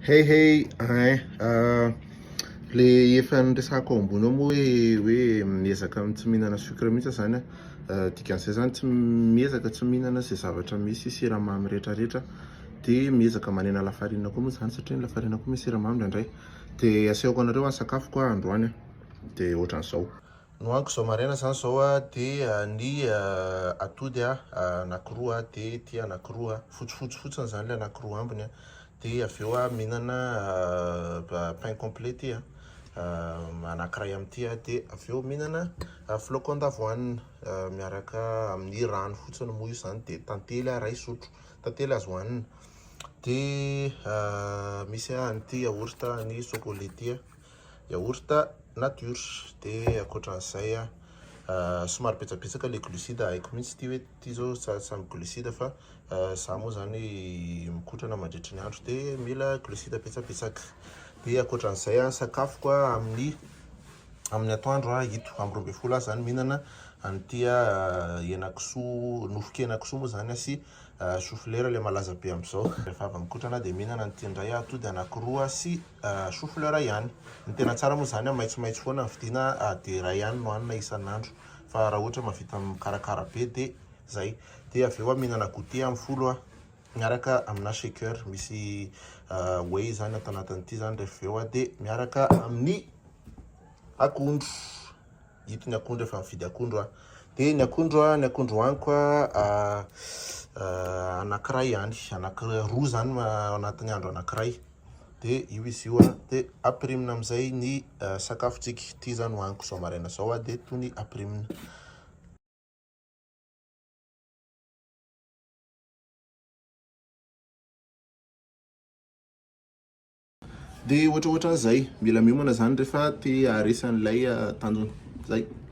Hey hey, hein, euh, le efa niresahako ao ambony ao moa hoe hoe miezaka amin'ny tsy mihinana sucre mihitsy aho zany a, dikan'izay zany tsy miezaka tsy mihinana izay zavatra misy siramamy retraretra, de miezaka manena lafarinina koa moa zany satria ny lafarinina koa misy siramamy indraindray, de asehoko anareo a sakafoko a androany a, de ohatran'izao. Nohaniko zao maraina zany zao a de ny atody a anakiroa a de ity anakiroa a fotsifotsy fotsiny zany le anakiroa ambiny a de avy eo a mihinana pain complet ty a anakiray amin'ity a de avy eo mihinana flocon d'avoine miaraka amin'ny rano fotsiny moa io zany de tantely a ray sotro tantely azo hanina de misy a an'ity yaourt an'i chocolat ty a. yaourt nature dia ankoatran'izay somary betsabetsaka le glucide haiko mihitsy ity hoe ity izao tsara ny glucide fa za moa zany mikotrana mandritry ny andro de mila glucide betsabetsaka dia ankoatran'izay a sakafoko a amin'ny amin'ny atoandro a ito amin'ny roa ambin'ny folo aho zany mihinana an'ity a henakisoa nofon-kenakisoa moa zany a sy choufleur le malaza be amizao rehefa avy mikotrana de mihinana an'ity indray aho atody anakiroa sy Choux fleur ihany. Ny tena tsara moa izany maitsomaitso foana ny vidiana dia iray ihany no hanina isan'andro fa raha ohatra mahavita mikarakara be dia izay. Dia avy eo mihinana goûter amin'ny folo miaraka amina shaker misy whey izany ato anatin'ity izany rehefa avy eo dia miaraka amin'ny akondro. Ito ny akondro efa mividy akondro aho. Dia ny akondro a, ny akondro hohaniko a, anankiray ihany, anankiray roa izany anatin'ny andro anankiray. Dia io izy io a, dia aprimina amin'izay ny sakafontsika. Ity izany hohaniko izao maraina izao a, dia toy ny aprimina. Dia ohatraohatran'izay. Mila miomana izany rehefa te haharesy an'ilay tanjona. Izay.